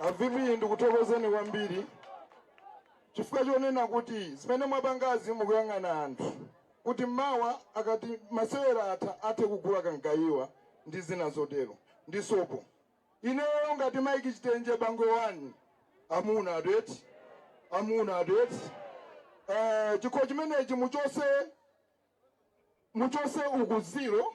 a VP ndikuthokozeni kwambiri chifukwa chonena kuti zimene mwapangazi mukuyang'ana anthu kuti mawa akati masewera atha athe kugula kamgayiwa ndi zina zotero ndi sopo ineyo ngati Mike chitenje Bangwe One amuna adeti amuna adeti eh, chikho chimenechi muchose muchose uku ziro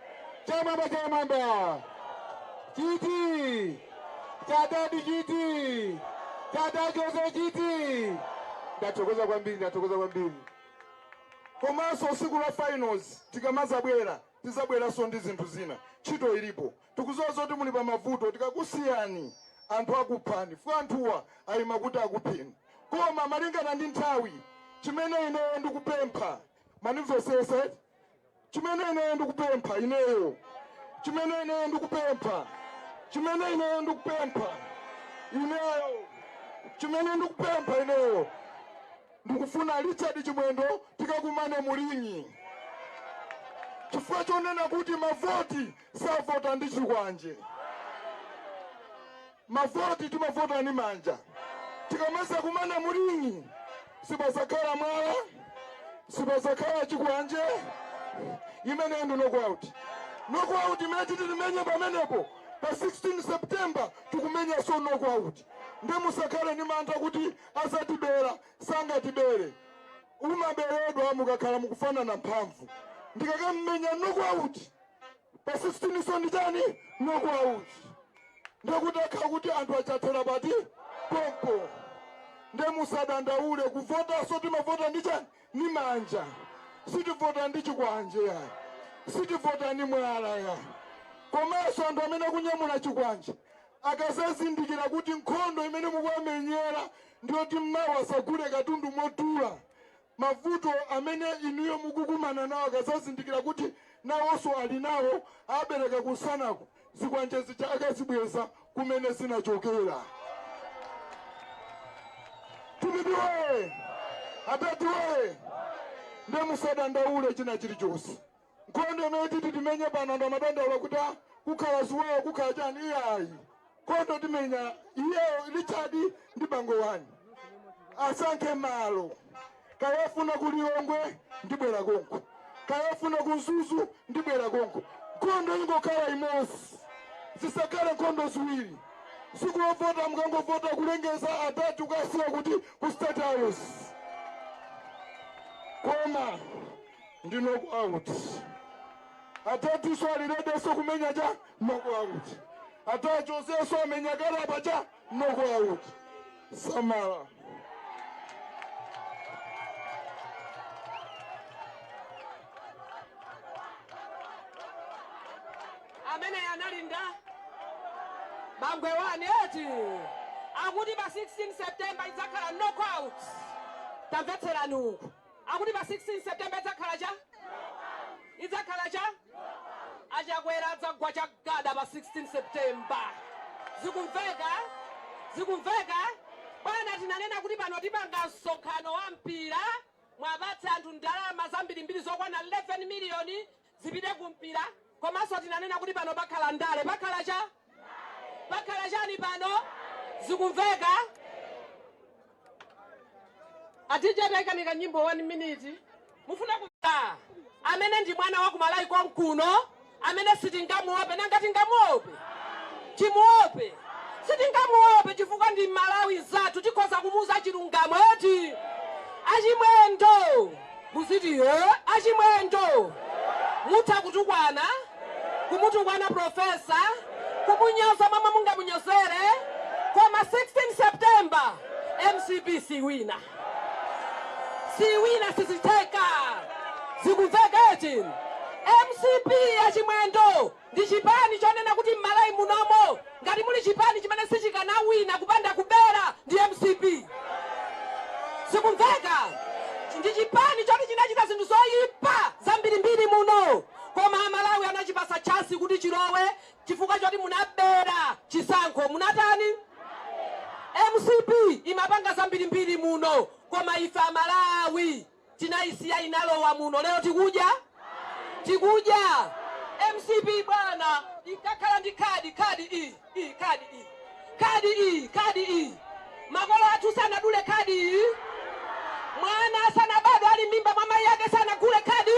chamwamba chamwamba chiti cha dadi chiti chatachozo chiti ndathokoza kwambiri ndathokoza kwambiri komanso siku la finals tikamazabwera tizabweranso ndi zinthu zina ntchito ilipo tikuziwa zakuti muli pa mavuto tikakusiyani anthu akuphani fukwa anthuwa ayima kuti akupheni koma malingana ndi nthawi chimene ineyo ndikupempha munimvesese chimene ineyo ndikupempha ineyo chimene ineyo ndikupempha chimene ineyo ndikupempha ineyo chimene ndikupempha ineyo ndikufuna richard chimwendo tikakumane mu ring'i chifukwa chonena kuti mavoti savota ndi chikwanje Mavoti timavota ndi manja. Tikamazakumana mu ring'i sipazakhala mwala, sipazakhala chikwanje. Imeneyo ndi knockout. Knockout imene titi timenye pamenepo pa 16 September tikumenyanso knockout. Nde musakhale ndi mantha kuti azatibera, sangatibere. Umaberedwa mukakhala mukufanana mphamvu. Ndikakamumenya knockout pa 16 so ndi chani knockout ndekuti akhala kuti anthu aja athera pati pompo nde musadandaule kuvotaso timavota ndi chani ni manja sitivota ndi chikwanje yayi sitivota ndi mwala yayi komanso anthu amene akunyamula chikwanje akazazindikira kuti nkhondo imene mukuwamenyera ndiyoti mmawa asagule katundu modula Mavuto amene inuyo mukukumana nawo akazazindikira kuti nawoso alinawo abereka kunsanaku zikwanje zija akazibweza kumene zinachokera. Dpp woye! Adadi woye! Nde musadandaule chinachilichose. Nkhondo imene titi timenye pano anthu amadandaula kuti "Ah, kukhala ziwawa kukhala chani iyayi nkhondo timenya iyeyo richard ndi Bangwe One asankhe malo kaya afuna ku lilongwe ndibwera konko kaya afuna ku mzuzu ndibwera konko nkhondo ingokhala imodzi zisakhale nkhondo ziwiri siku lovota mukangovota kulengeza adadi tukasiya kuti ku state house koma ndi knockout atatuso alirediso kumenya cha knockout atachosaso amenya kale apa cha knockout samala amene analinda bangwe wani eti akuti pa 16 september idzakhala knockout tamvetserani uku Akuti pa 16 September idzakhala cha? Idzakhala cha? A Chakwera adzagwa chagada pa 16 September. Zikumveka? Zikumveka? Bwana tinanena kuti pano tipanga msonkhano wa mpira, mwapatsa anthu ndalama zambirimbiri zokwana 11 miliyoni zipite ku mpira komanso tinanena kuti pano pakhala ndale pakhala cha pakhala chani pano zikumveka a dj taikani kanyimbo nyimbo 1 minute mufuna kuta amene ndi mwana wa kumalawi konkuno amene sitingamuope nanga tingamuope timuope sitingamuope chifukwa ndi mmalawi mzathu tikhoza kumuuza chilungamo eti achimwendo Muziti eeh achimwendo. Mutha kutukwana, kumutukwana professor, kumunyoza momwe mungamunyozere koma 16 September mcp siiwina. Siiwina sizitheka. Zikumveka eti? Mcp achimwendo. ndi chipani chonena kuti mmalawi munomo ngati muli chipani chimene sichikanawina kupanda kubera ndi mcp zikumveka ndi chipani choti chinachita zinthu zoipa zambirimbiri muno koma amalawi anachipasa chance kuti chilowe chifukwa choti munabera chisankho munatani mcp imapanga zambirimbiri muno koma ife amalawi Tinaisiya inalowa muno lero tikudya? Tikudya? Mcp bwana inkakhala ndi khadi, khadi iyi, iyi, khadi iyi, khadi iyi, khadi iyi. Makolo athu sanagule khadi iyi. Mwana asanabadwe ali m'mimba mwa mayi ake sanagule khadi.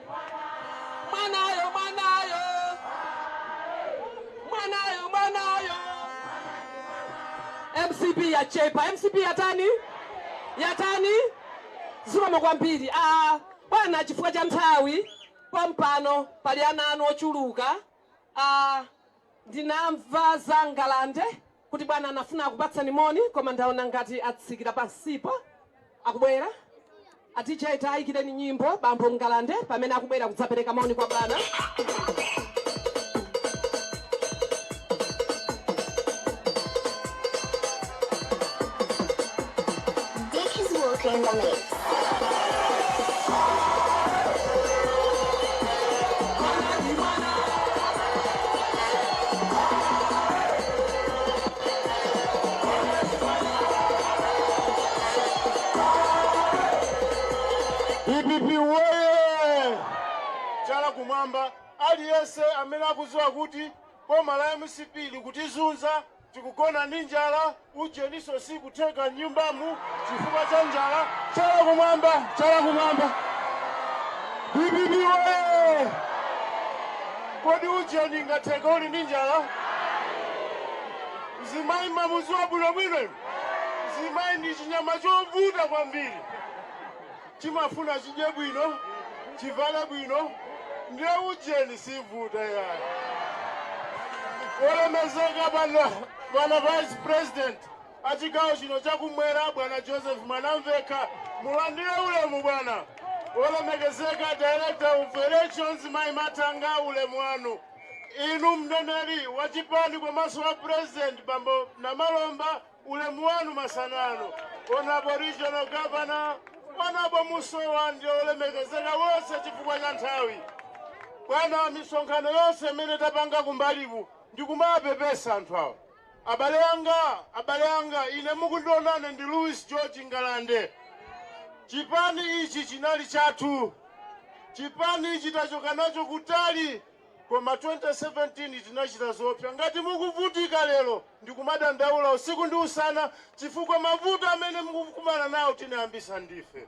mwanayo mwanayo mwanayo mwanayo mcp yachepa mcp yatani yatani zikomo kwambiri a bwana chifukwa cha nthawi pompano pali ana anu ochuluka ndinamva za ngalande kuti bwana amafuna akupatseni moni koma ndaona ngati atsikira pansipa akubwera a dj tayikireni nyimbo bambo mngalande pamene akubwera kudzapereka moni kwa bwana Dpp woyee! Chala kumwamba, aliyense amene akuziwa kuti boma la mcp likutizunza Tikugona ndi njala, ujeninso sikutheka m'nyumbamu chifukwa cha njala. Chala kumwamba, chala kumwamba, dpp woyee! Kodi ujeni ingatheke uli ndi njala? Mzimayi mmamudziwa bwinobwino inu? Mzimayi ndi chinyama chovuta kwambiri. Chimafuna chidye bwino, chivale bwino, nde ujeni sivuta yayi. Wolemezeka bwana vice president a chigawo chino cha kumwera bwana Joseph Mwanamvekha, mulandire ulemu bwana. Wolemekezeka director of elections Mai Mathanga, ulemu wanu. Inu mneneri wa chipani komanso wa president bambo Namalomba, Ulemu wanu masana ano Honorable Regional Governor, Honorable Musowa ndi olemekezeka onse chifukwa cha nthawi. Bwana misonkhano yonse imene tapanga kumbaliku ndikumawapepesa anthu awa. Abale anga, abale anga, ine mukundionane ndi Louis George Ngalande. Chipani ichi chinali chathu. Chipani ichi tachoka nacho kutali Koma 2017 tinachita zoopsa. Ngati mukuvutika lero ndi kumadandaula usiku ndi usana chifukwa mavuto amene mukukumana nawo tinayambisa ndife.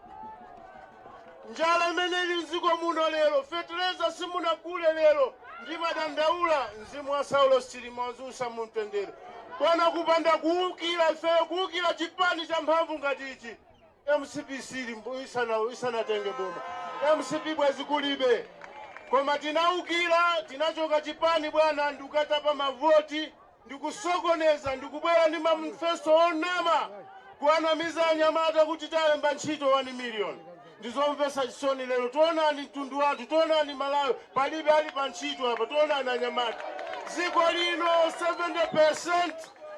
Njala imene ili mdziko muno lero, fetereza simunagule lero ndimadandaula, mzimu wa Saulos Chilima uziusa mu mtendere. Bwana kupanda kuukira ifeyo, kuukira chipani cha mphamvu ngati ichi Mcp isanatenge boma mcp bwezi kulibe koma tinaukila tinachoka chipani bwana ndikatapa mavoti ndikusokoneza ndikubwela ndi manifesto onama kuwanamiza anyamata kuti talemba ntchito 1 million ndizomvesa chisoni lelo taonani mtundu wathu taonani malawi palibe ali pa ntchito apa taonani anyamata ziko lino 70%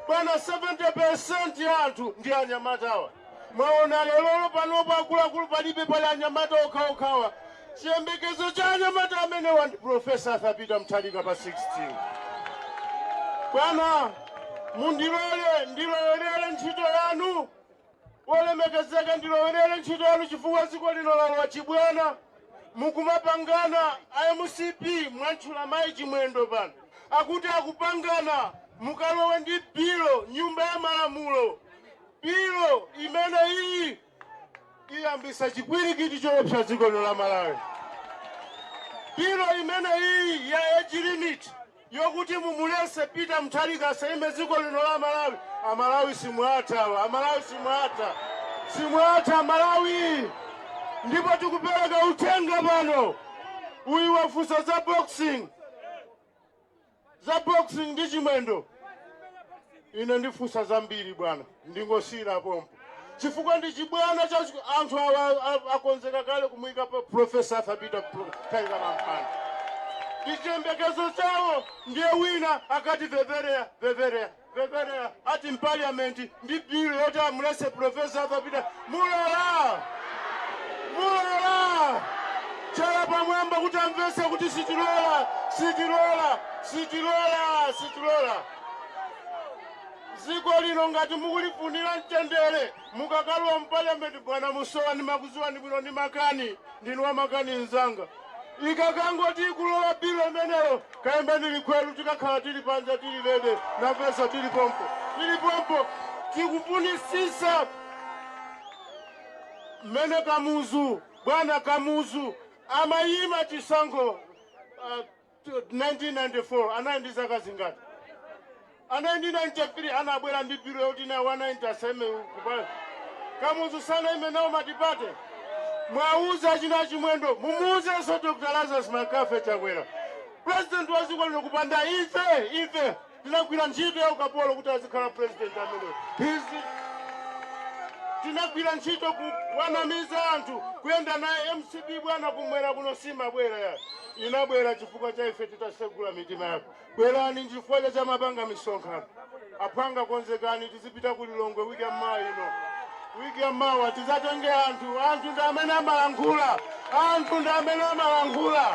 bwana 70% ya anthu ndi anyamata awa. Mwaona lero, panopo, akuluakulu palibe, pali anyamata okhaokhawa. Chiyembekezo cha anyamata amenewa ndi Professor Arthur Peter Mutharika pa 16. Bwana, mundilole ndilowerere ntchito yanu, wolemekezeka, ndilowerere ntchito yanu chifukwa dziko lino lalowa chibwana. Mukumapangana a mcp mwantchula mayi Chimwendo pano akuti akupangana mukalowe ndi bilo nyumba ya malamulo. Bill imene iyi iyambisa chipwirikiti choopsa dziko lino la Malawi. Bill imene iyi ya age limit yokuti mumulese Peter Mutharika asaime dziko lino la Malawi. Amalawi simwatha, Amalawi simwatha, simwatha Amalawi. Ndipo tikupereka uthenga pano, uyu wafunsa za boxing Za boxing ndi Chimwendo ine ndifunsa zambiri bwana, ndingosiyira pompo chifukwa ndi chibwana cha anthu. Akonzeka kale kumuika Prof. Arthur Peter Mutharika pa mpando ndi chiyembekezo chawo ndiye wina akati veverea veverea. Veverea ati mu paliyamenti ndi bill yoti amulese Profesa Arthur Peter mulola mulola chala pamwamba kuti amvese kuti sitilola sitilola sitilola sitilola dziko lino ngati mukulifunira mtendere Mukakalowa mu parliament bwana Musowa ndimakuziwani bwino ndi makani ndinu wa makani nzanga. Ikakangoti ikulowa bill imeneyo kayimbeni likhwelu tikakhala tili panja tili lede nafeso tili pompo tili pompo tikufunisisa mmene Kamuzu bwana Kamuzu amayima chisankho 1994 anali ndi zaka zingati? 1993 anabwela ndi bill yoti nawo a 90 asaime ku parliament. Kamuzu sanaime nawo matipate? Mwauza achina Chimwendo mumuuzenso Dr Lazarus Makafe Chakwera president wa dziko lino kupanda ife ife. Tinagwira ntchito ya ukapolo kuti azikhala president ameneyo. Izi tinagwira ntchito kuwanamiza anthu kuyenda naye mcp bwana kumwera kuno simabwera ayi inabwera chifukwa cha ife titasegula mitima yathu bwerani nchifukwa chake amapanga misonkhano aphwanga konzekani tizipita ku lilongwe wiki ya mmawa ino Week ya mawa tizatenge anthu anthu ndi amene amalankhula anthu ndi amene amalankhula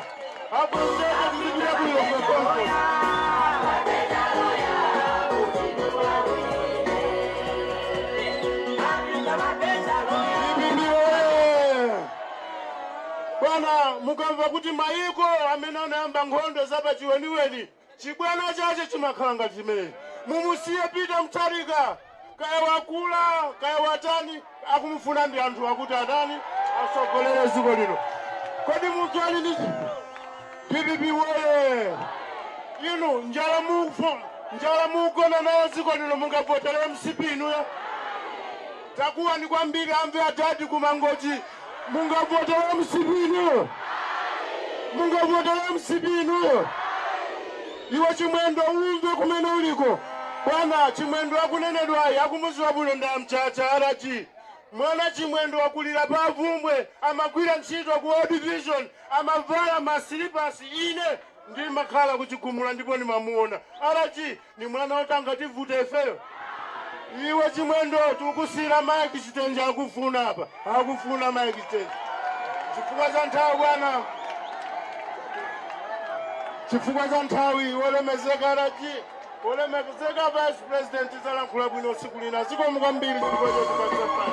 aposetu tizipita ku Lilongwe konko DPP oye! Bwana mukamva kuti mayiko amene anayamba nkhondo zapachiweniweni Chibwana chache chimakhala ngati chimene. Mumusiye Peter Mutharika kaya wakula kaya watani akumufuna ndi anthuwa kuti atani atsogolere dziko lino. Kodi munthu ali ndi dpp woyee! Inu njala mukufo, njala mukugona nayo dziko lino mungavotere mcp inuyo? Takuwani kwambiri amve adad ku mangochi mungavotele mcp inuyo? Mungavotele mcp inuyo? Iwe chimwendo umve kumene uliko bwana chimwendo akunenedwayi akumuziwa bwino ndi a mchacha RG mwana chimwendo wakulila pa Bvumbwe amagwila ntchito ku World Vision amavala ma silipasi ine ndimakhala ku chigumula ndipo ndimamuona RG Ni mwana woti angativute ifeyo? Iwe Chimwendo tikukusiyira Mike Chitenje akufuna apa. Akufuna Mike Chitenje. Chifukwa cha nthawi bwana. Chifukwa cha nthawi wolemezeka RG wolemezeka vice president zalankhula bwino siku lina zikomo kwambiri chifukwa chotipatsa mpata.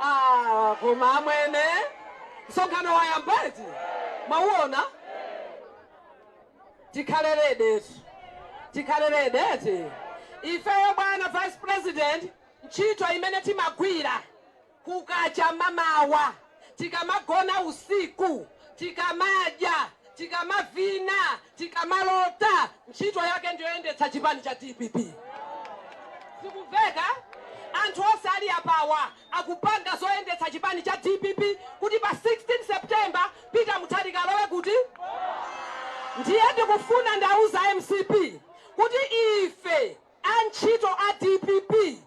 Ah, koma amwene msonkhano wayamba eti mwauona tikhale ready eti tikhale ready eti ifeyo bwana vice president ntchito imene timagwira Kukacha mamawa, tikamagona usiku, tikamadya, tikamavina, tikamalota, ntchito yake ndiyoyendetsa chipani cha dpp. Zikumveka? Anthu onse ali apawa akupanga zoyendetsa chipani cha dpp kuti pa 16 September Peter Mutharika alowe kuti? Ndiye ndikufuna ndiwauze mcp kuti ife. Antchito a dpp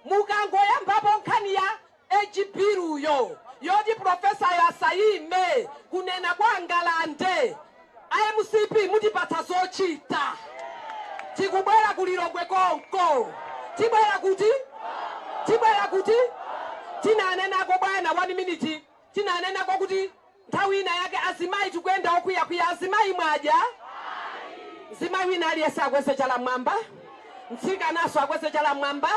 mukangoyambapo nkhani ya age bill yo yoti professor-yo asayime, kunena kwa Ngalande, a mcp mutipatsa zochita. Tikubwera ku Lilongwe konko. Tibwera kuti? Tibwera kuti? Tinanenako bwana, one minute. tinanenako kuti nthawi ina yake azimayi tikuyenda okwiyakwiya azimayi mwadya? Ayi. Mzimayi wina aliyense akweze chala mmwamba, mtsikanaso akweze chala mmwamba.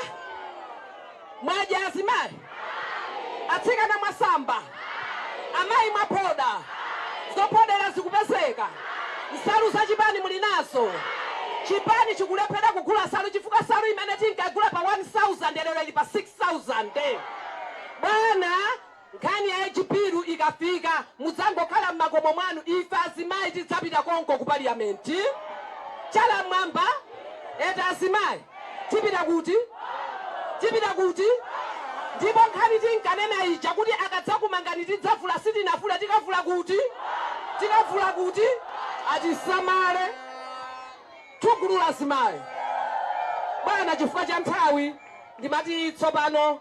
Mwadya azimayi? Ayi. Atsikana mwasamba? Ayi. Amayi mwaphoda? Ayi. Zophodera zikupezeka? Ayi. Nsalu za chipani muli nazo? Ayi. Chipani chikulephera kugula nsalu chifukwa nsalu imene tinkagula pa 1000 lero ili pa 6000 bwana. Nkhani ya age bill ikafika mudzangokhala mmakomo mwanu ife azimayi tidzapita konko ku parliament. Chala mmwamba eti azimayi tipita kuti? Tipita kuti? Ndipo nkhani tinkanena ija kuti akadzakumangani tidzavula sitinavule tikavula kuti? Tikavula kuti? Atisamaletu gulu la azimayi. Bwana chifukwa cha nthawi ndimati tsopano.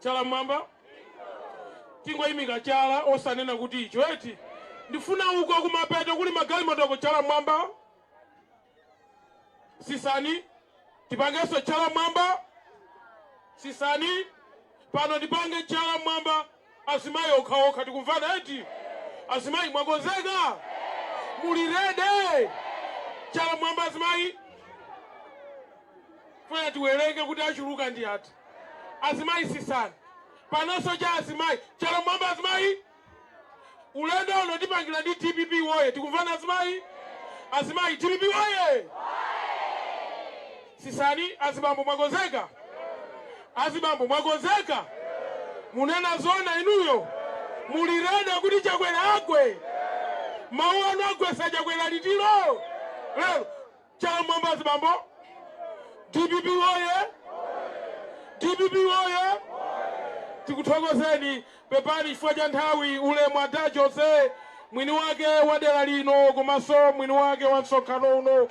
Chala mmwamba. Tingoimika chala, osanena kuti icho, eti? Ndifuna uko kumapeto kuli magalimotoko, chala mmwamba. Sisani, tipangenso chala mmwamba. Sisani, pano tipange chala mmwamba. Azimayi okhaokha, tikumvana, eti? Azimayi, mwakonzeka? Muli ready? Chala mmwamba, azimayi. Funa tiwerenge kuti achuluka ndi ati. azimayi sisani panoso cha azimayi chala mmwamba azimayi ulendo uno tipangila ndi dpp woye tikumvana azimayi azimayi dpp woye sisani azibambo mwakonzeka azibambo mwakonzeka munena zona inuyo muli ready kuti chakwera agwe mawu anu agwesa chakwera litiro lero Chala mmwamba azibambo! Dpp woye! Dpp woye! Tikuthokozeni. Pepani chifukwa cha nthawi. Ulemu Ada Jose, mwini wake wa dera lino komanso mwini wake wa msonkhano uno.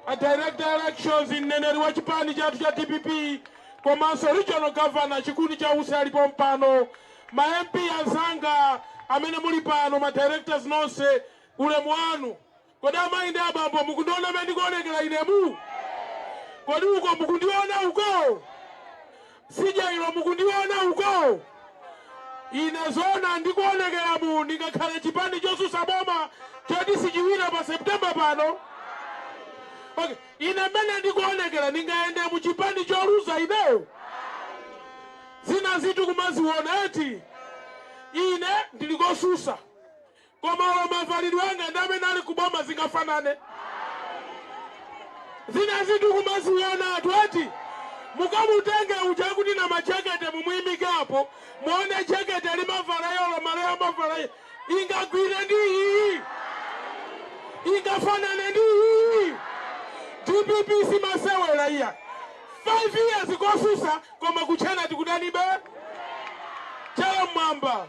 A Director Elections, mneneri wa chipani chathu cha dpp komanso Regional Governor Chikuni cha Usi ali pompano. Ma MP anzanga amene muli pano, ma directors nonse, ulemu wanu. Kodi amayi ndi abambo mukundiona mmene ndikuonekera inemu? Kodi uko mukundiona uko? Tsidya ilo mukundiona uko? Ine zoona ndikuonekeramu, ndingakhale chipani chosusa boma choti sichiwina pa September pano? Ok, ine mmene ndikuonekera ndingayende mu chipani choluza ine? Zinazitu kumaziona eti? Ine ndili kosusa. Koma olo mavalidwe anga ndi amene ali ku boma zingafanane? Zinazitu kumazionatu eti. Mukamutenge uja akuti Namajekete mumuimike apo, muone jekete limavala iye olo malaya amavala iye, ingagwire ndi iyiyi? Ingafanane ndi iyiyi? Dpp simasewera iyayi. 5 years kosusa koma kutchena tikudanibe? Chala m'mwamba.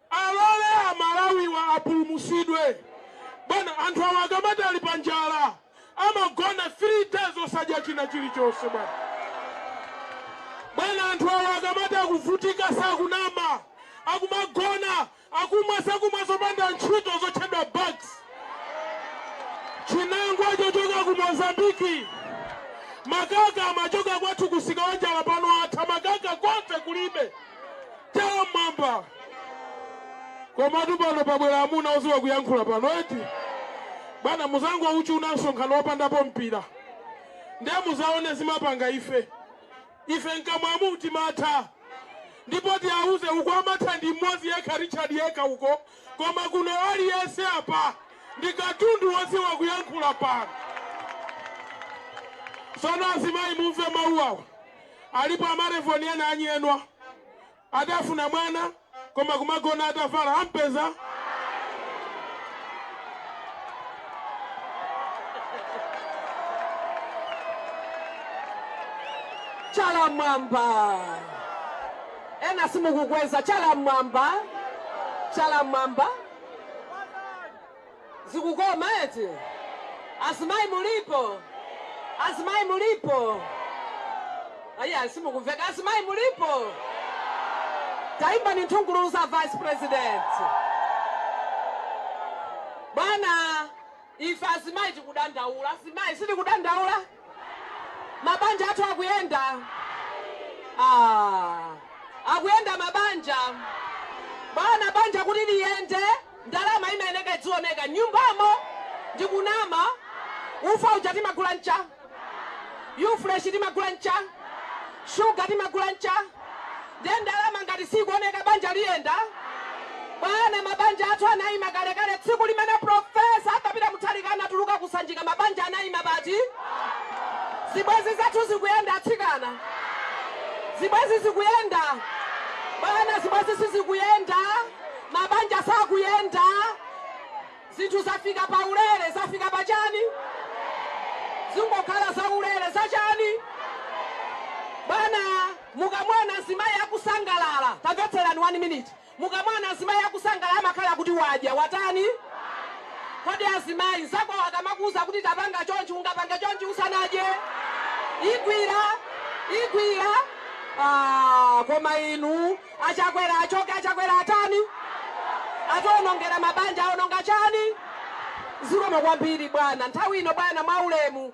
Alole amalawiwa apulumusidwe bwana anthu awa akamati ali pa njala amagona 3 days osadya china chilichonse bwana bwana anthu awa akamati akuvutika sakunama akumagona akumwa zakumwa zopanda ntchito zotchedwa bags chinangwa chochoka ku mozambiki makaka amachoka kwathu ku Msikawanjala pano atha makaka konse kulibe chala mwamba komatu pano pabwera amuna oziwa kuyankhula pano eti bwana muzangochititsa msonkhano wopandapo mpira ndiye muzaone zimapanga ife ife mkamwamu timatha ndipo tiauze uko amatha ndi mmodzi yekha richard yekha uko koma kuno aliyense apa ndi katundu woziwa kuyankhula pano sono azimayi mumve mawu awa Alipo a ma Revlon ena anyenwa adafuna mwana koma kumagona atavala ampeza chala mwamba ena simukukweza chala mwamba chala mwamba Zikukoma eti? Azimayi mulipo? Azimayi mulipo? Ayiayi simukumveka. Azimayi mulipo? Tayimbani nthungululu za vice president. Bwana ife azimayi tikudandaula. Azimayi sitikudandaula? Mabanja athu akuyenda? Aaa akuyenda mabanja? Bwana banja kuti liyende ndalama imayeneka idzioneka mnyumbamo ndikunama? Ufa uja timagula ncha? Yufresh timagula ncha? Sugar timagula ncha? Ndiye ndalama ngati siikuoneka banja liyenda? Bwana mabanja athu anaima kalekale tsiku limene Prof. Arthur Peter Mutharika anatuluka ku Sanjika mabanja anaima pati? Zibwenzi zathu zikuyenda atsikana? Zibwenzi zikuyenda? Bwana zibwenzi sizikuyenda, mabanja sakuyenda, zinthu zafika pa ulere, zafika pa chani? Zingokhala za ulere, za chani? Bwana. Mukamaona mzimayi akusangalala, tamvetserani 1 minute, mukamaona mzimayi akusangalala amakhala kuti wadya, watani? Kodi azimayi, mzakowo akamakuuza kuti tapanga chonchi, ungapange chonchi usanadye? Igwira? Igwira? Aaa koma inu, a Chakwera achoke, a Chakwera atani? Ationongera mabanja, aononga chani? Zikomo kwambiri bwana, nthawi ino bwana, mwaulemu.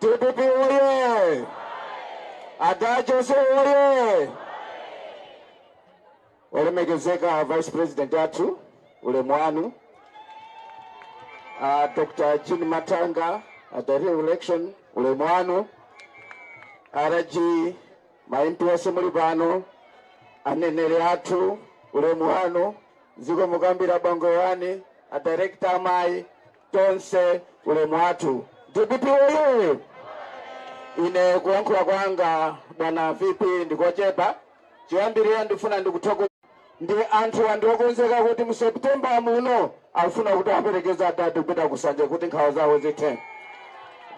DPP oye! Ada Jose oye! Olemekezeka Vice President athu ulemu wanu uh, Dr. Jean Mathanga a director election ulemu wanu RG maimpi onse muli pano aneneri athu ulemu wanu zikomo kwambiri bwana wanga a director amayi tonse ulemu wathu dpp woyee ine kuyankhula kwanga bwana vp ndikochepa choyambirira ndifuna ndikuthokoza ndi anthuwa ndiokonzeka kuti mu september muno akufuna kuti aperekeze adadi kupita ku sanjika kuti nkhawa zawo zithe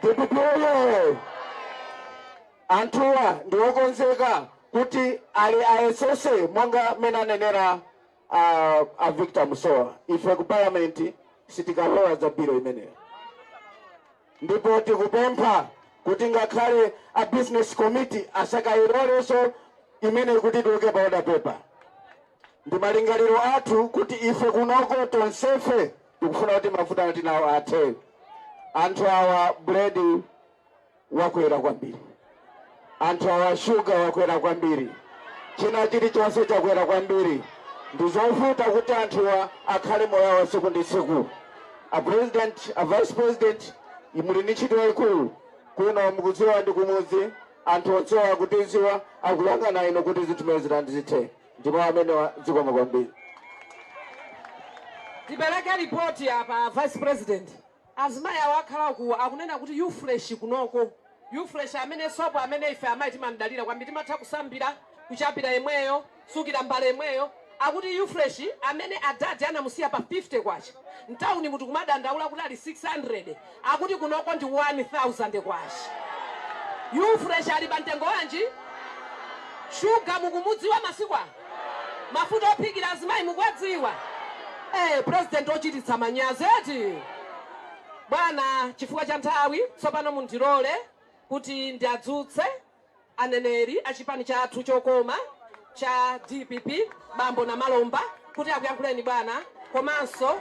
dpp woyee anthuwa ndiokonzeka kuti ali ayesese monga mmene anenera a, a victor musowa ife ku parliament sitikalowa za bill imeneyo ndipo tikupempha kuti ngakhale a business committee asakayilolenso imeneyi kuti tiyike pa order paper ndi malingaliro athu kuti ife kunoko tonsefe tikufuna kuti mavuto tili nawo athe anthu awa buledi wakwera kwambiri, anthu awa shuga wakwera kwambiri, china chilichonse chakwera kwambiri. Ndizovuta kuti anthuwa akhale moyo wawo tsiku ndi tsiku. A president, a vice president, muli ndi ntchito yayikulu kuno, mukudziwa ndi kumudzi, anthu onsewa akutidziwa, akuyang'ana inu kuti zinthu zimenezi zithe ndi mawu amenewa zikomo kwambiri. Tipereke ripoti apa Vice President. Azimayi awa akhala uku akunena kuti U-Fresh kunoko. U-Fresh amene soap amene ife amayi timamdalira kwambiri timatha kusambira, kuchapira yemweyo, kusukira mbale yemweyo. Akuti U-Fresh amene adadi anamusiya pa K50 mtaunimu tikumadandaula kuti ali K600 akuti kunoko ndi K1000. U-Fresh ali pa mtengo wanji? Shuga mukumudziwa masiku ano? Mafuta ophikira azimayi mukuwadziwa? Eee president ochititsa manyazi eti. Bwana chifukwa cha nthawi tsopano mundilole kuti ndiadzutse aneneri achipani chathu chokoma cha dpp bambo Namalomba kuti akuyankhuleni bwana komanso.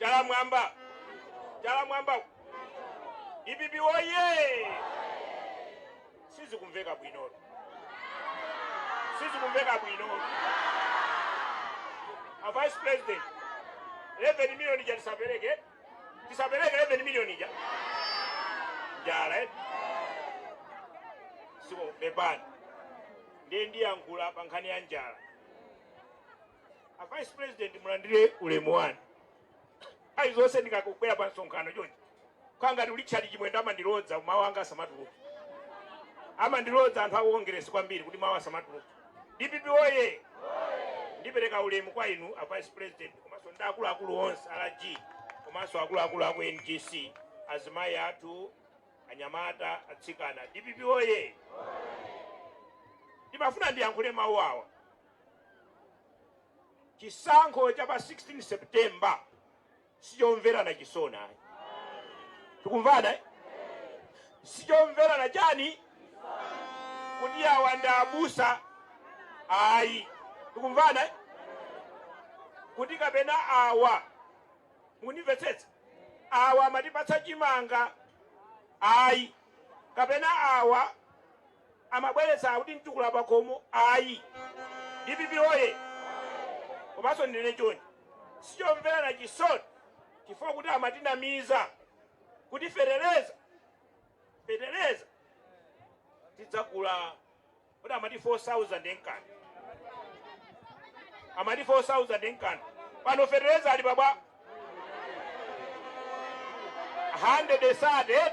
Chala m'mwamba. Chala m'mwamba. DPP oye. Sizikumveka bwino. Sizikumveka bwino. A vice president. 11 million ija tisapeleke. Tisapeleke 11 million ija. Njala eh. Siko bebani. Ndiye ndiyankhula pa nkhani ya njala. a vice president mulandire ulemu wanu nthawi zonse ndikangobwera pa msonkhano chonchi kukhala ngati richard chimwendo amandilodza mawu anga asamatuluka amandilodza anthu a kongeresi kwambiri kuti mawu asamatuluka dpp oye ndipereka ulemu kwa inu a vice president komanso ndi akuluakulu onse rg komanso akuluakulu aku ngc azimayi athu anyamata atsikana dpp oye ndimafuna ndiyankhule mawu awa Chisankho cha pa 16 September sichomverana chisoni ayi. Tikumvana? eh? Sichomverana chani kuti awa ndi abusa ayi. Tikumvana? eh? Kuti kapena awa mundimvetsetsa awa amatipatsa chimanga ayi kapena awa amabweretsa kuti mtukula pakhomo ayi dpp woye komanso ndinene chonchi sichomverana chisoni chifukwa kuti amatinamiza kuti feteleza feteleza tizagula kuti amati 4000 enkani amati 4000 enkani pano feteleza ali pabwa 100 and 30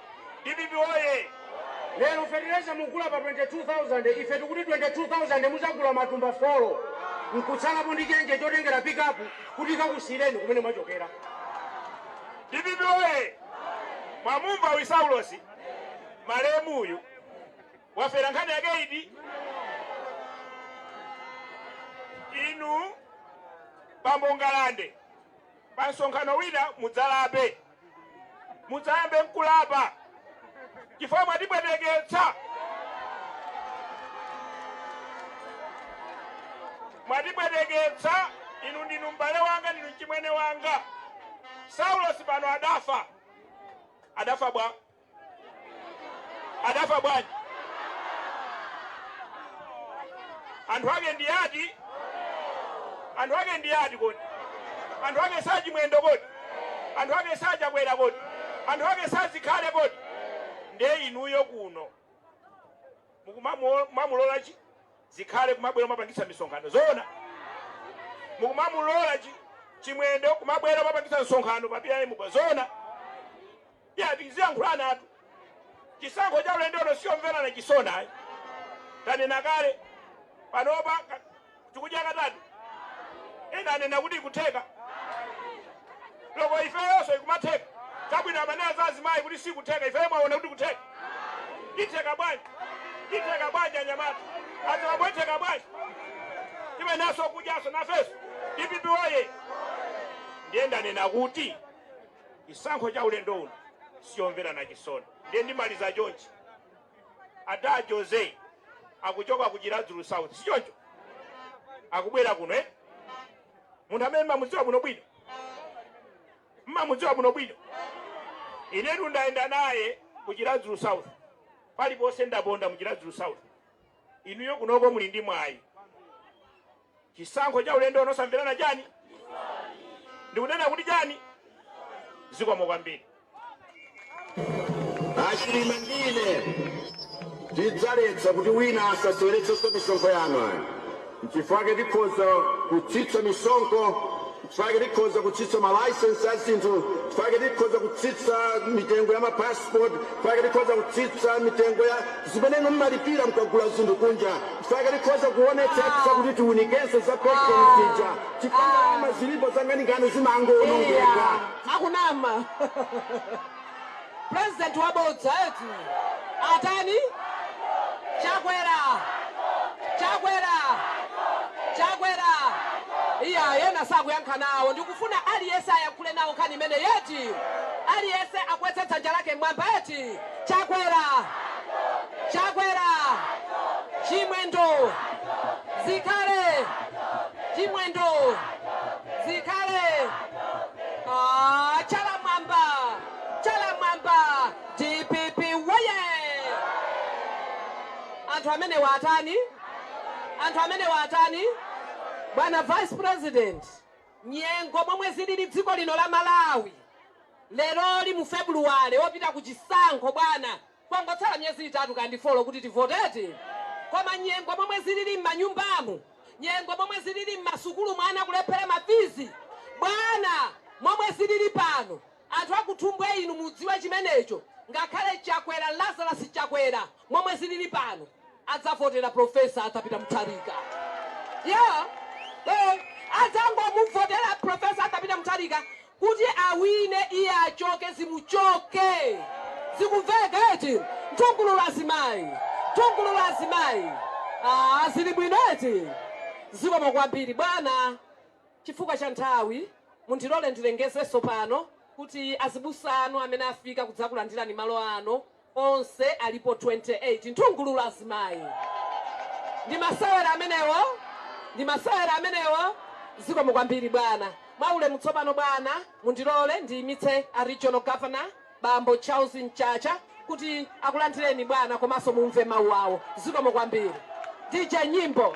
Dpp woye! Lero fertilizer mukugula pa 22,000 ife tukuti 22,000 muzagula matumba folo nkutsalapo ndi chenje chotengera pikapu kuti ikakutsitsireni kumene mwachokera. Dpp woye! Mwamumva uyu Saulosi malemu uyu wafera nkhani yake iti? Inu bambo Ngalande pa msonkhano wina mudzalape. mudzayambe mkulapa chifukwa mwatipweteketsa mwatipweteketsa inu ndinu m'bale wanga ndinu mchimwene wanga saulosi pano adafa adafa bwa adafa bwanji anthu ake ndi ati anthu ake ndi ati kodi anthu ake si a chimwendo kodi anthu ake si a chakwera kodi anthu ake si a zikhale kodi ndiye inuyo kuno mukumamulola chi zikhale kumabwera kumapangitsa misonkhano zoona mukumamulola chi chimwendo kumabwera kumapangitsa msonkhano pa bm pa zoona ya tiziyankhulanatu chisankho cha ulendo uno siyomverana chisoni ayi tanena kale panopa ka- tikudya katatu ena anena kuti ikutheka loko ifeyonso ikumatheka chabwino amanena za azimayi kuti sikutheka ifeyo mwaona kuti ikutheka itheka bwanji itheka bwanji anyamata azibambo itheka bwanji timenye nawonso kudyaso nafeso dpp woye ndiye ndanena kuti chisankho cha ulendo uno siyomverana chisoni ndiye ndimalize chonchi ada jose akuchoka ku chiradzulu south sichoncho akubwera kuno eh? munthu amene mmamudziwa bwino bwino mmamudziwa bwino bwino inetu ndayenda naye ku chiradzulu south paliponse ndaponda mu chiradzulu south inuyo kunoko muli ndi mwayi Chisankho cha ulendo uno osamverana chani? Ndikunena kuti chani? Zikomo kwambiri. Achilima ndine tidzaletsa kuti wina asaseweretsenso misonkho yanu ayi. Nchifukwa chake tikhoza kutsitsa misonkho Chifukwa chake tikhoza kutsitsa ma licence a zinthu, chifukwa chake tikhoza kutsitsa mitengo ya ma passport, chifukwa chake tikhoza kutsitsa mitengo ya zimene inu mmalipira mkagula zinthu kunja, chifukwa chake tikhoza kuonetsetsa kuti tiunikenso za pension zija, chifukwa ndalama zilipo zankhaninkhani zimangoonongeka. Akunama. President wabodza eti? Atani? Chakwera! Chakwera! Chakwera! Iyayi, ena sakuyankha nawo. Ndikufuna aliyense ayankhule nawo nkhani imeneyi eti? Aliyense akweze dzanja lake m'mwamba eti? Chakwera! Chakwera! Chimwendo! Zikhale! Chimwendo! Zikhale! Ah, chala mwamba chala mwamba dpp woye anthu amene watani anthu amene watani bwana vice president nyengo momwe zilili dziko lino la malawi leroli mu februwale popita ku chisankho bwana Kwangotsala miyezi itatu kaya ndi folo kuti tivote eti? Koma nyengo ya momwe zilili mmanyumbamu, nyengo ya momwe zilili mmasukulumu ana kulephera ma fizi, bwana momwe zilili pano anthu a ku Thumbwe inu mudziwe chimenecho ngakhale Chakwera Lazarus Chakwera momwe zilili pano. adzavotera professor arthur peter mutharika yeah eh adzangomuvotera professor arthur peter mutharika kuti awine iye achoke zimuchoke zikumveka eti nthungululu azimayi nthungululu azimayi ah zili bwino eti zikomo kwambiri bwana chifukwa cha nthawi mundilole ndilengezenso pano kuti azibusa anu amene afika kudzakulandirani malo ano onse alipo 28 nthungululu azimayi ndi masewera amenewo ndi masewera amenewo zikomo kwambiri bwana mwaulemu tsopano bwana mundilole ndiyimitse a regional governor bambo charles mchacha kuti akulandireni bwana komanso mumve mawu awo zikomo kwambiri dj nyimbo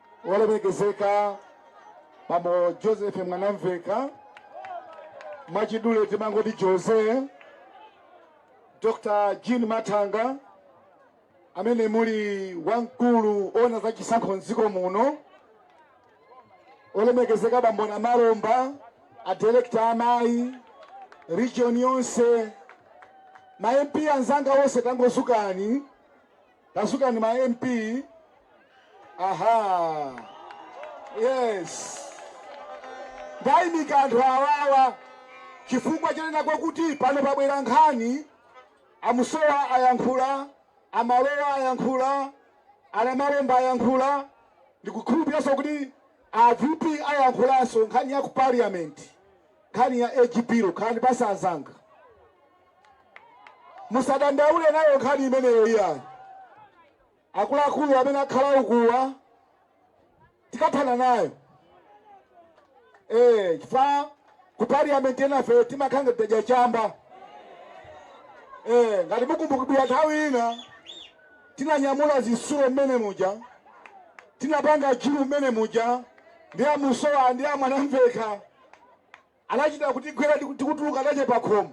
olemekezeka bambo joseph mwanamveka mwachidule timangoti jose dr jean mathanga amene muli wamkulu ona za chisankho mdziko muno olemekezeka bambo namalomba a director amayi region yonse ma mp anzanga onse tangozukani Tadzukani ma MP. Aha. Yes. Ndaimika anthu awawa chifukwa chonena kwakuti pano pabwera nkhani a Musowa ayankhula a Malowa ayankhula a Namalomba ayankhula ndikukhulupiranso kuti a VP ayankhulanso nkhani ya ku parliament nkhani ya age bill khalani pasi anzanga musadandaule nayo nkhani imeneyo iyayi akuluakulu amene akhala ukuwa tikathana nayo eh chifukwa ku parliament enafe timakhala ngati tadya chamba eh ngati mukumbukira nthawi ina tinanyamula zisulo mmene muja tinapanga jiru mmene muja ndi a musowa ndi a mwanamveka anachita kutigwira tikutuluka nacho pa khomo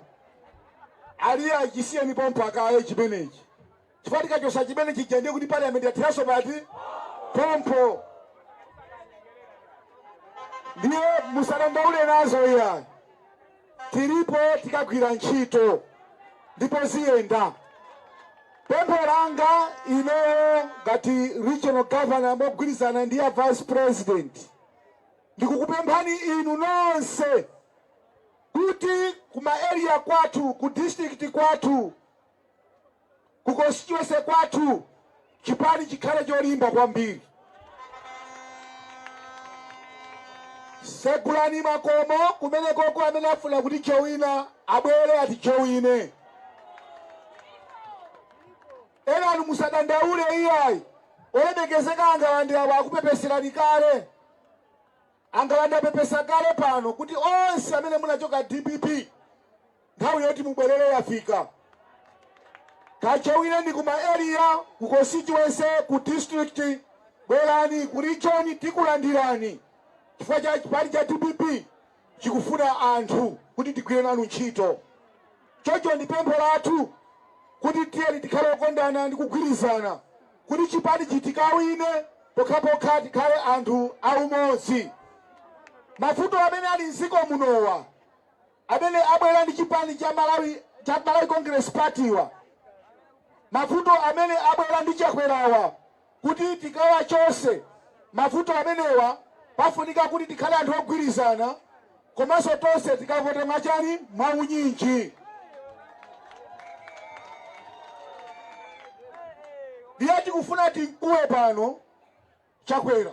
ali iya chisiyeni pompa kaye chimenechi chifukwa tikachosa chimene chija ndiye kuti parliament yatheranso pati pompo ndiye musadandaule nazo iya tilipo tikagwira ntchito ndipo ziyenda pempho langa ineyo ngati regional governor mogwirizana ndi a vice president Ndikukupemphani inu nonse kuti ku ma area kwathu, ku district kwathu, ku constituency kwathu chipani chikhale cholimba kwambiri. Segulani makomo kumenekoko amene afuna kutijowina abwere atijowine. Enanu musadandaule iyayi, olemekezeka a Ngalande awa akupepeserani kale. A Ngalande apepesa kale pano kuti onse amene munachoka dpp nthawi yoti mubwerere yafika kajowineni ku ma area ku constituency ku district bwerani ku region tikulandirani chifukwa cha chipani cha dpp chikufuna anthu kuti tigwire nanu ntchito. Choncho ndi pempho lathu kuti tiyeni tikhale okondana ndi kugwirizana kuti chipanichi tikawine pokhapokha tikhale anthu a umodzi. Mavuto amene ali m'dziko munowa amene abwera ndi chipani cha Malawi cha Malawi Congress Party-wa, mavuto amene abwera ndi Chakwerawa, Kuti tikawachotse mavuto amenewa pafunika kuti tikhale anthu ogwirizana komanso tonse tikavote mwachani? Mwaunyinji. Ndiye tikufuna timkuwe pano Chakwera.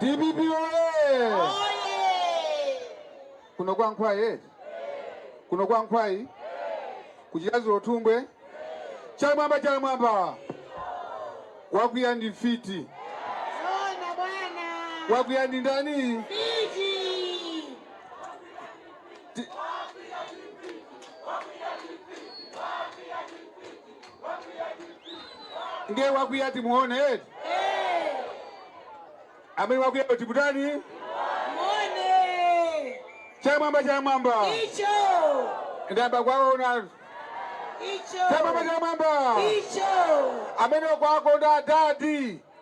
DPP woyee! Kuno kwa Nkhwayi eh? Kuno kwa Nkhwayi kuchikazi lotumbwe chamwamba chamwamba wakwiya ndi mfiti wakwiya ndi ndani Ti- ndiye wakwiya timuone eti amene wakwiya kuti kutani Muone chamwamba chamwamba icho ndayamba kuwaona icho chamwamba chamwamba icho amene kuwakonda adadi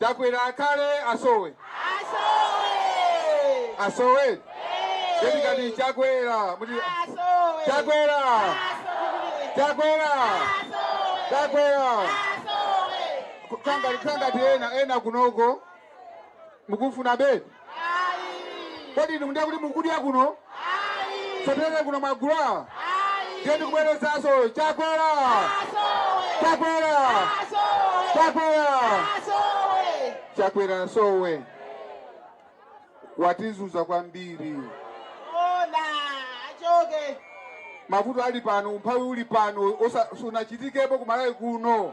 Chakwera akhale asowe asowe Eti kati Chakwera muti Chakwera Chakwera Chakwera kanga kanga ena ena kunoko mukufuna beti Kodi inu ndiye kuti mukudya kuno? Sotere kuno mwagula? Ndiye ndikubwerezaso chakwera. Chakwera. Chakwera. Chakwera asowe. Watizuza kwambiri. Ona achoke. Mavuto ali pano, umphawi uli pano, osa- sunachitikepo ku Malawi kuno.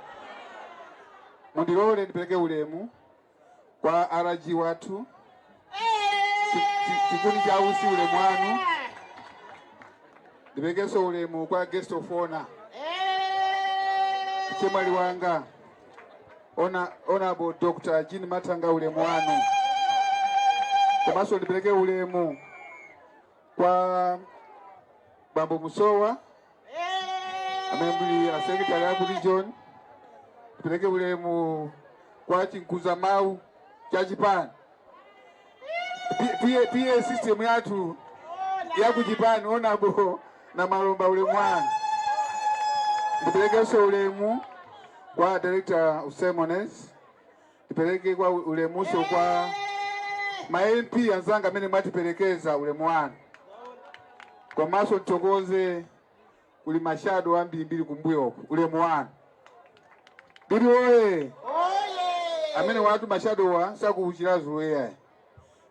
Mundilole ndipeleke ulemu. Kwa RG wathu chikuni cha utsi ulemu wanu ndiperekenso ulemu kwa guest of honor chemwali wanga Honorable Dr. Jean Mathanga ulemu wanu komanso ndipereke ulemu kwa bambo Musowa amenenso ali a secretary aku region ndipereke ulemu kwa chimkuza mawu cha chipani P- PA PA system yathu ya kuchipani Honorable Namalomba ulemu wanu ndiperekenso ulemu kwa director of ceremonies Ndipereke kwa ulemunso kwa ma MP anzanga amene mwatiperekeza ulemu wanu komanso ndithokoze kuli mashado ambirimbiri kumbuyoku ulemu wanu DPP oye amenewatu mashadowa sa ku Chiradzulu eya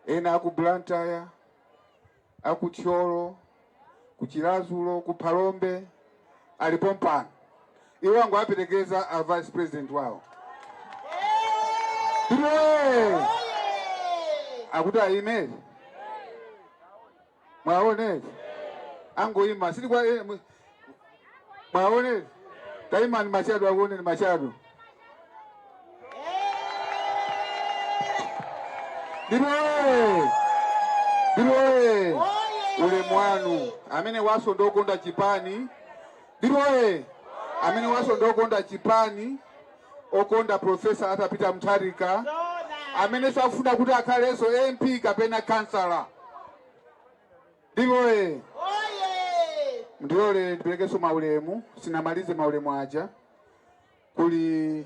ena aku Blantyre a ku Thyolo, ku Chiradzulu, ku Phalombe ali pompano. Iwo angowaperekeza a vice president wawo. DPP oye! Akuti ayime eti? Mwaona eti? Angoyima. Sili kwa eh, mwe- Mwaone? Taimani mashado akuoneni mashado. DPP oye! DPP oye! Ulemu wanu amenewanso ndokonda chipani. DPP oye! Amenewanso ndokonda chipani okonda Profesa Arthur Peter Mutharika amene sakufuna kuti akhalenso MP kapena kansala. DPP oye! Mundilole ndiperekenso maulemu, sinamalize maulemu aja. Kuli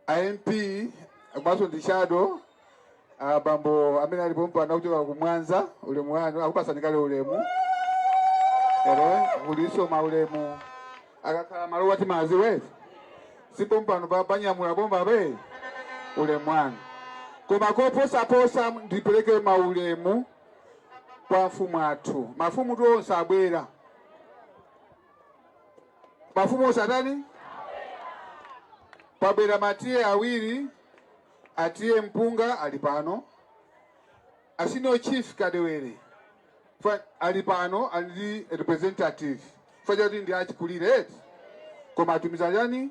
a MP komanso ndi shado abambo amene ali pompano kuchoka ku Mwanza, ulemu wanu akupasani kale ulemu. Ero kulinso maulemu akakhala malowa timazi wezi sipo mpano pa panyamula bomba be ulemu wanu koma koposaposa ndipereke maulemu kwa mafumu athu. Mafumutu onse abwera, mafumu onse atani, pabwera ma TA awiri, a TA Mpunga ali pano, a senior chief Kadewere ali pano, ali ndi representative chifukwa choti ndi achikulire eti koma atumiza chani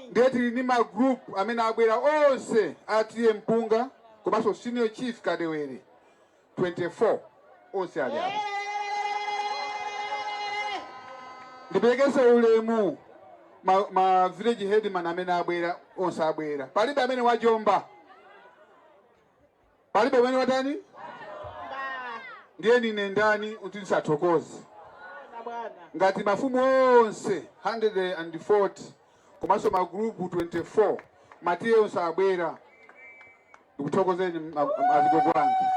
ndiye tili ndi ma group amene abwera onse a TA Mpunga komanso senior chief Kadewere 24 onse ali apa ndiperekenso ulemu ma, ma village headman amene abwera onse abwera palibe amene wajomba palibe amene watani ndiye ndine ndani kuti ndisathokoze ngati mafumu onse 140 komanso magrupu 24 ma TA onse abwera ndikuthokozeni ma- ma- azigogo anga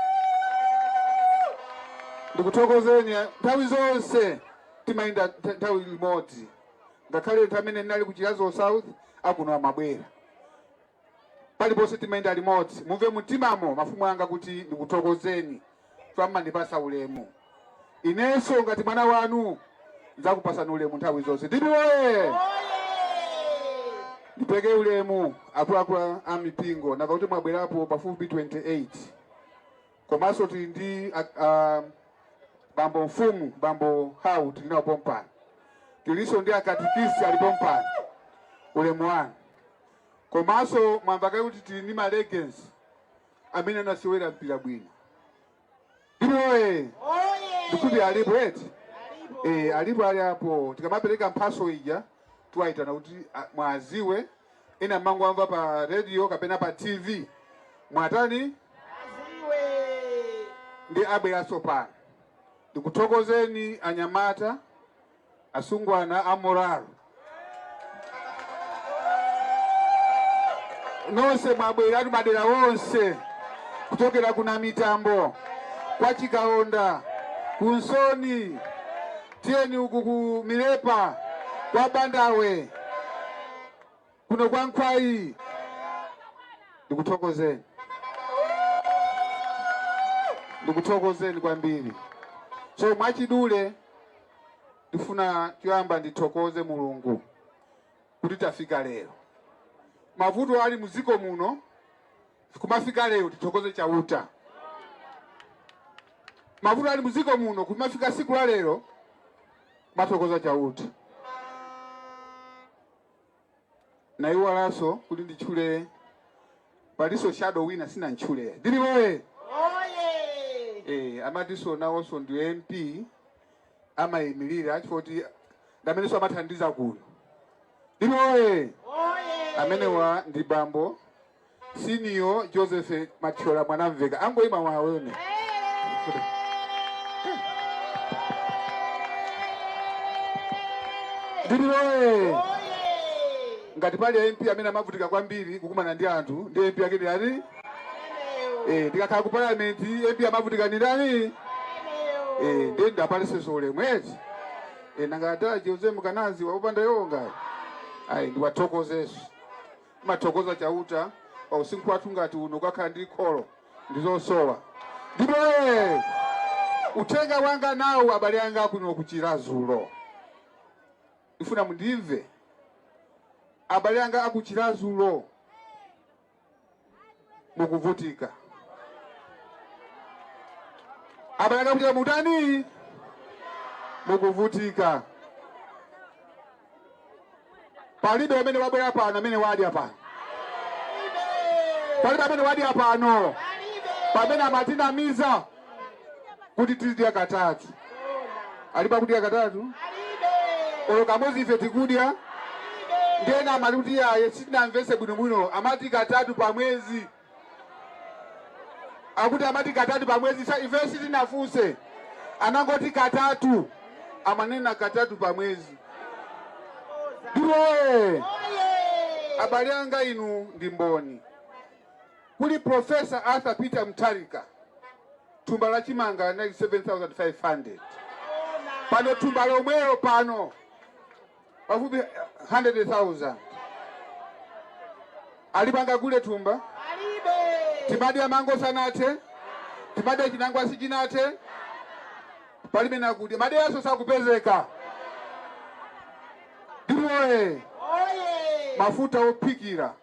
ndikuthokozeni nthawi zonse timayenda ntha- nthawi limodzi ngakhale nthawi imene ndinali ku Chiradzulu South akuno amabwera Paliponse timayenda limodzi. Mumve mumtimamo mafumu anga kuti ndikuthokozeni chifukwa mmandipatsa ulemu. Inenso ngati mwana wanu ndidzakupatsani ulemu nthawi zonse. Dipi woye! Ndipeke ulemu akuluakulu a- a mipingo nanga kuti mwabwerapo pafupi 28 komanso tili ndi a- a- bambo mfumu bambo hau tili nawo pompano tilinso ndi akatikisi ali pompano ulemu wanu Komanso mwamva kale kuti tili ndi ma legends amene anasewera mpira bwino. Dipi woye ndikuti alipo eti eh, alipo ali apo. Tikamapereka mphatso ija tiwayitana kuti ah, muwadziwe ena mumangowamva pa radio kapena pa TV muwatani ndi abweranso pano. Ndikuthokozeni anyamata asungwana a morale nonse mwabweratu madera onse kuchokera ku Namitambo kwa Chikaonda ku Nsoni tiyeni uku ku Milepa kwa Bandawe kuno kwa Nkhwayi. Ndikuthokozeni, ndikuthokozeni kwambiri. So mwachidule ndifuna choyamba ndithokoze Mulungu kuti tafika lero. Mavuto ali muziko muno kumafika lero tithokoze Chauta. Mavuto ali muziko muno kumafika siku la lero kumathokoza Chauta. ndaiwalanso kuti nditchule palinso shadow wina sinamtchule Dipi woye eh, amatinso nawonso ndi MP amayimirira chifoti ndamenenso amathandiza kuno Dipi woye amenewa ndi bambo Senior Joseph Mathyola Mwanamvekha angoima awaone. Dipi woye. Ngati pali MP amene amavutika kwambiri kukumana ndi anthu ndi MP yake ndi yani? Eh, ndikakhala ku parliament MP amavutika ndi ndani? Eh, ndiye ndiwapatsenso ulemu eti. Eh, nanga ata Jose Mkanazi wakupanda yonga. Ayi ndiwathokozenso. Timathokoza Chauta pa usinkhu wathu ngati uno kukakhala ndi kholo ndi zosowa. Ndipo ee, uthenga wanga nawu abale anga kuno ku Chiradzulu, ndifuna mundimve abale anga aku Chiradzulu. mukuvutika abale anga kuchita mutani mukuvutika palibe amene wabwera pano amene wadya pano palibe amene wadya pano pamene amatinamiza kuti tizidya katatu alipo akudya katatu olo kamodzi ife tikudya ndiyena amati kuti yaye sitinamvese bwinobwino amati katatu pa mwezi akuti amati katatu pa mwezi ife sitinafunse anangoti katatu amanena katatu pa mwezi ndiye abale anga inu ndi mboni Kuli Professor Arthur Peter Mutharika thumba la chimanga linali 7500 pano thumba lomwelo pano pafupi 100000 ali pangakule thumba timadya mango sanathe timadya chinangwa sichinathe palibe nakudya madeyaso sakupezeka ndiye mafuta ophikira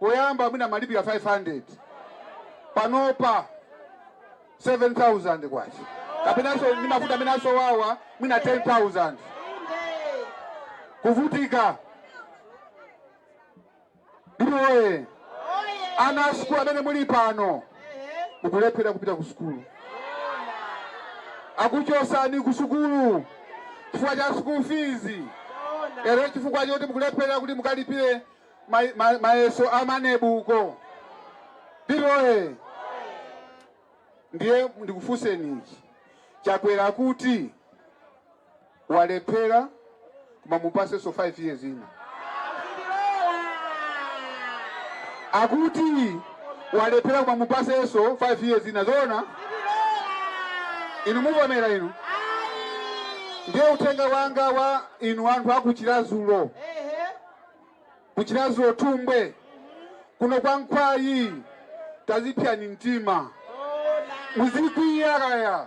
Poyamba mwina amalipira 500 panopa 7000 kwacha kapenanso ndi mafuta amene asowawa mwina 10000 kuvutika ndiye ana asukulu amene muli pano mukulephera kupita ku sukulu akuchosani ku sukulu chifukwa cha school fees lero chifukwa choti mukulephera kuti mukalipire mayeso a MANEB uko ndiye ndiye ndikufunseni Chakwera kuti walephera koma mupasenso 5 years ina akuti walephera koma mupasenso 5 years ina zoona inu muvomera inu ndiye uthenga wanga kwa inu anthu aku Chiradzulu ku Chiradzulu Thumbwe kuno kwa nkhwayi tazipyani mtima muzikwiyako ayi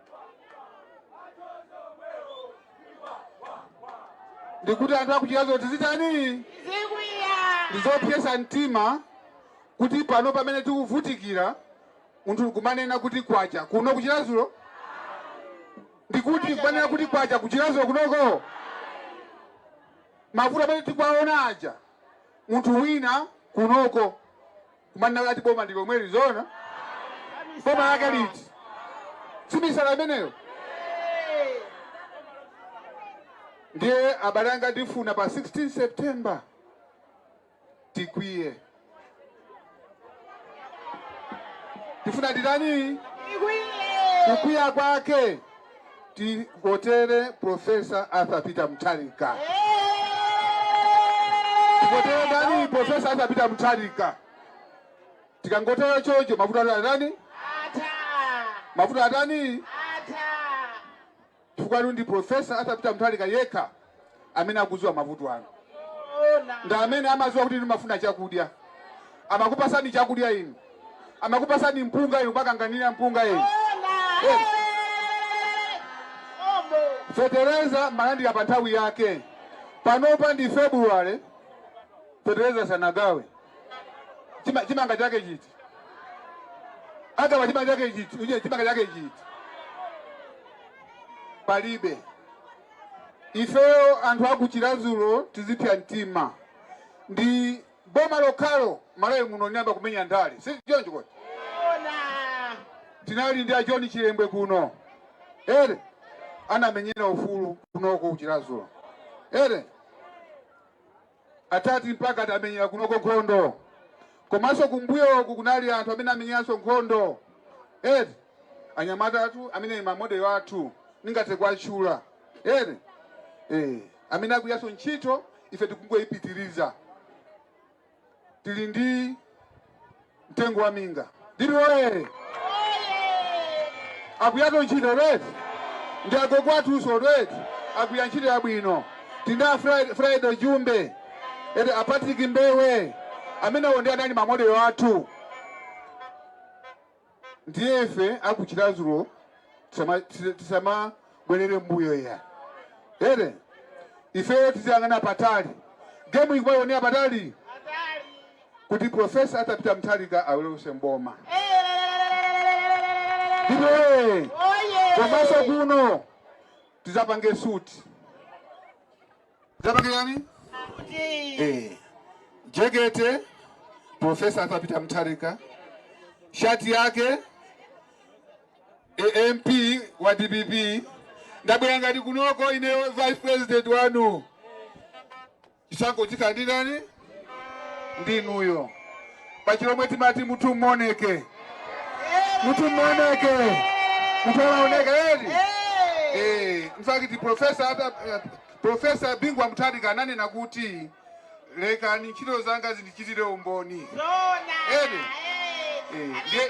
ndikuti anthu aku Chiradzulu tizitani ndizopyesa mtima kuti pano pamene tikuvutikira munthu kumanena kuti kwacha kuno ku Chiradzulu ndikuti kumanena kuti kwacha ku Chiradzulu kunoko mavuto amene tikwaona aja munthu wina kunoko Kumanena ati boma ndi lomweli zoona? Boma lake liti? Si misala imeneyo? Ndiye abale anga ndifuna pa 16 September tikwiye. Tifuna titani? Kukwiya kwake. tivotere Profesa Arthur Peter Mutharika. Tivotere ndani? Profesa Arthur Peter Mutharika. Tikangotero chocho, mavuto atani atani? Mavuto atani? Chifukwa ndi Profesa Arthur Peter Mutharika yekha amene akuziwa mavuto anu ndi amene amaziwa kuti inu mafuna chakudya amakupasani chakudya inu amakupasani mpunga inu kumakanganira mpunga inu fetereza malandira pa nthawi yake panopa ndi february fetereza sanagawe Chima- chimanga chake chiti agawa chimanga chake chiti Uje, chimanga chake chiti palibe ifeyo anthu aku Chirazulo tizipya mtima ndi boma lokhalo Malawi muno linayamba kumenya ndale si choncho kodi? Tinali ndi a John Chilembwe kuno ere anamenyera ufulu kunoko ku Chirazulo ere Atati mpaka tamenyera kunoko nkhondo komanso kumbuyoku kunali anthu amene amenyeranso nkhondo eti anyamatatu amene ma model athu ndingathe kuwatchula eti eh amene akugwiranso ntchito ife tikungoipitiriza tili ndi mtengo wa minga ndipo oye akugwiranso ntchito eti ndi agogo athuso eti akugwira ntchito yabwino tili ndi a Fri- Friday Jumbe eti a Patrick Mbewe amenewo ndi anali mamodelo athu ndiye ife aku Chirazulo tisama- tisa- tisama bwerere mbuyo iya ere ifeyo tiziyang'ana patali gemu tikumaionera patali kuti profesa Arthur Peter Mutharika abwerenso m'boma ndipo ee, komanso kuno tizapange suti tizapange chani eh, jekete profesa Arthur Peter Mutharika shati yake a MP wa DPP ndabwera ngati kunoko ineyo vice president wanu chisankho chikandidani ndi inuyo pa chilomwe timati mutu moneke mutu moneke mutu olaoneka eti eh in fact professor Arthur eh, professor Bingu wa Mutharika ananena kuti lekani ntchito zanga zindichitire umboni eti eh ndiye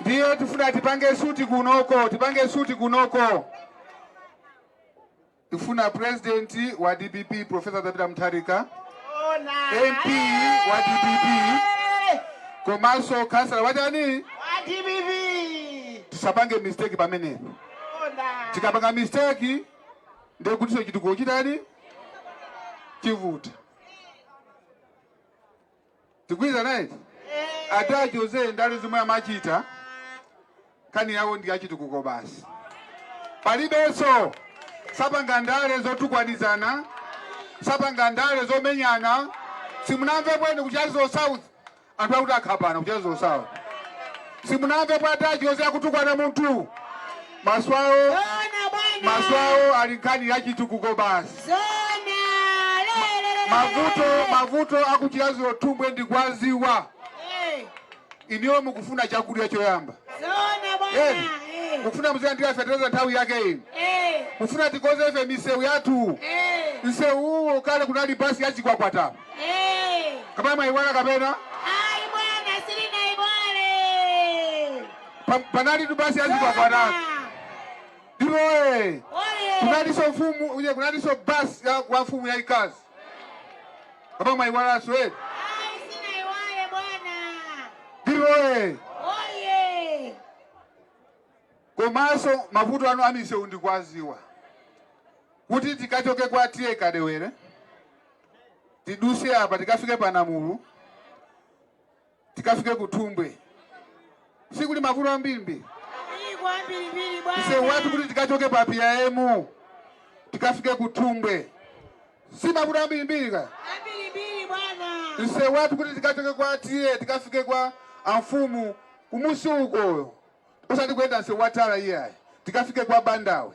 ndiye tifuna tipange suti kunoko, tipange suti kunoko. Tifuna president wa DPP Professor Arthur Peter Mutharika, MP wa DPP komanso kansala wachani, tisapange mistake pamene. Tikapanga mistake ndiye kutiso chitukuko chitani chivuta. Tikugwirizana eti? Ata a Jose ndale zomwe amachita nkhani yawo ndi yachitukuko basi, palibenso sapanga ndale zotukwanizana, sapanga ndale zomenyana. Simunamvepo inu ku Chiradzulu South anthu akuti akhapana ku Chiradzulu South, simunamvepo ata a Jose akutukwana munthu Maso awo, Zoona bwana. maso awo ali nkhani ya chitukuko basi. Zoona. Lelelelele. Mavuto, mavuto aku Chiradzulu Thumbwe ndikuwaziwa. Eh, Inuyo mukufuna chakudya choyamba. Zoona Eh, bwana. Eh, mukufuna muzilandira fetereza nthawi yake ino. eh, Mufuna tikonze ife misewu yathu. eh, Msewu uwo kale kunali basi ya chikwakwata. eh. Kapena mwayiwala kapena? Pa- panalitu basi ya chikwakwata ndipo oye kunalinso mfumu uye kunalinso basi ya kwa mfumu yaikazi apa mwayiwalanso eti Sinaiwale bwana. ndipo oye Oye. komanso mavuto anu amisewu ndikuwaziwa kuti tikachoke kwa TA Kadewere tiduse apa tikafike pa namulu tikafike ku thumbwe sikuli mavuto ambirimbiri msewu wathu kuti tikachoke pa PIM tikafike ku thumbwe si mavuto ambirimbiri ka msewu wathu kuti tikachoke kwa TA tikafike kwa amfumu kumusi ukoyo usati kuyenda msewu wa tala iyayi tikafike kwa bandawe